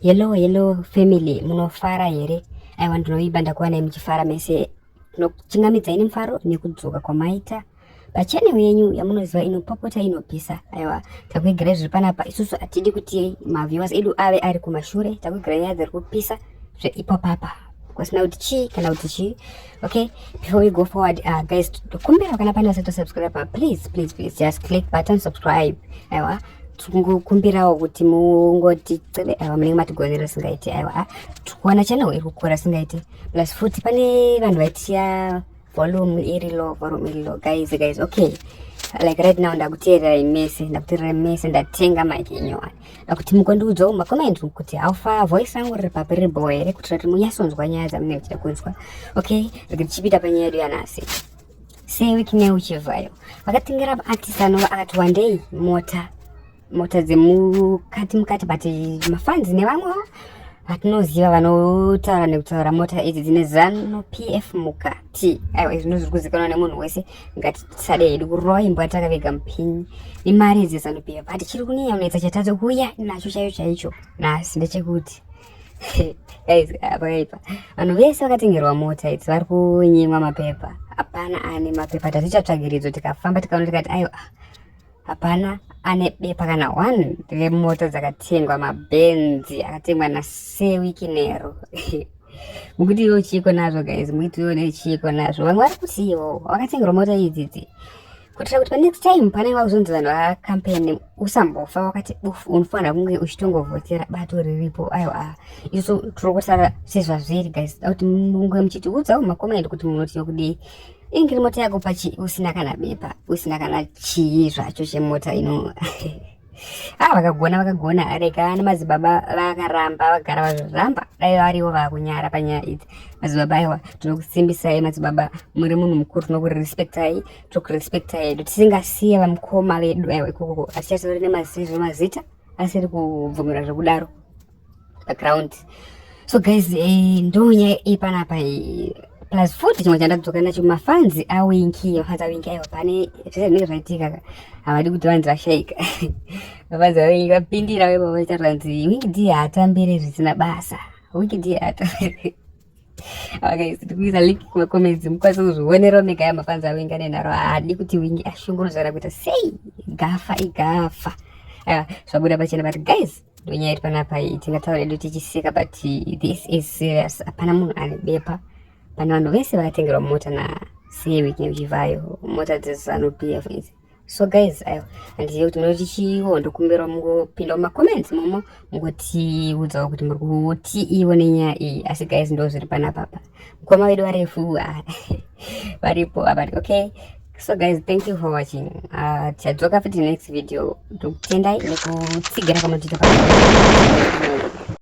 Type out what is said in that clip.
Hello, hello family, munofara here? Aiwa ndinoimba ndakuwanai muchifara mese. Tinochingamidza ini mufaro nekudzoka kwamaita pachanel yenyu yamunoziva inopopota inopisa. Aiwa takuigirai zviri panapa, isusu hatidi kuti maviewers edu ave ari kumashure, takuigirai nyaya dziri kupisa zveipopapa. Kwasina kuti chii kana kuti chii, okay before we go forward uh, guys kumbira kana pane asati subscribe please please please just click button subscribe aiwa tingokumbirawo kuti mungoti cebe aiwa munenge matigonera singaiti aiwa tikuona channel iri kukura singaiti plus futi pane vanhu vaitiya volume iri low volume iri low guys guys okay like right now ndakuteerera imese ndakuteerera imese ndatenga mike inyowani kuti mukondiudzwa kuma comment kuti how far voice rangu riri papi riri boe here kuitira kuti munyasonzwa nyaya dzamunenge muchida kunzwa okay rege tichipita panyaya yedu yanhasi sewiki neuchivhayo vakatengera artist anova akati wandei mota mota dzemukati mukati but mafans nevamwe vatinoziva vanotaura nekutaura mota idzi dzine zano pf mukati aiwa izvino zviri kuzikanwa nemunhu wese ngatisade hedu kurova imbo yatakavega mupinyi nemari idzi dzanopiwa but chiri kunyeya unetsa chatadza kuuya nacho chaiyo chaicho nhasi ndechekuti guys apakaipa vanhu vese vakatengerwa mota idzi vari kunyimwa mapepa hapana ane mapepa tatichatsvagiridzo tikafamba tikaona tikati aiwa hapana ane bepa kana one remoto dzakatengwa mabhenzi akatengwa nasewiki nero mukuti iwo chiiko nazvo guys mukuti iwo nechiiko nazvo vamwe vari kuti iwo wakatengerwa moto idzidzi kuitira kuti panext time panenge vakuzonzi vanhu vacampaign usambofa wakati bufu unofanira kunge uchitongovhotera bato riripo aiwa isu tiri kusara sezvazviri guys kuti munge muchitiudzawo makomendi kuti munoti yokudii inge iri mota yako pachi usina kana bepa usina kana chii zvacho chemota ino ah vakagona vakagona rega nemadzibaba vakaramba vagara vazviramba dai variwo vakunyara panyaya idzi madzibaba aiwa tinokusimbisai madzibaba muri munhu mukuru tinokurespectai tokurespectai tisingasiye vamukoma vedu aiwa ikokoko asi chasori nemazizvo mazita asiri kubvumira zvekudaro background so guys eh, ndonyaya ipanapa eh, plus futi chimwe chandadzoka nacho mafanzi awinki mafanzi awinki aiwa pane zvese zvinenge zvaitika havadi kuti vanzi vashaika mafanzi awinki vapindira vaiva vaita ranzi wiki d haatambire zvisina basa wiki d haatambire Okay, sitikuisa link kuma comments mukwanisa kuzvionerawo mega ya mafanzi awenga nenharo haadi kuti wingi ashungurudzana kuita sei gafa igafa aiwa zvabuda pachena but guys ndonyaya iri panapa iyi tingataura edu tichiseka but this is serious hapana munhu ane bepa pane vanhu vese vakatengerwa mota na see weekend chivayo mota dzezanu pf izi so guys ayo handizive kuti munoti chiiwo ndokumbirwa mungopinda mumacomments momo mungotiudzawo kuti muri kutiiwo nenyaya iyi asi guys ndo zviri panapapa mukoma vedu varefu varipo avati okay so guys thank you for watching ah, tichadzoka uh, futi next video ndokutendai nekutsigira kwamatiita pa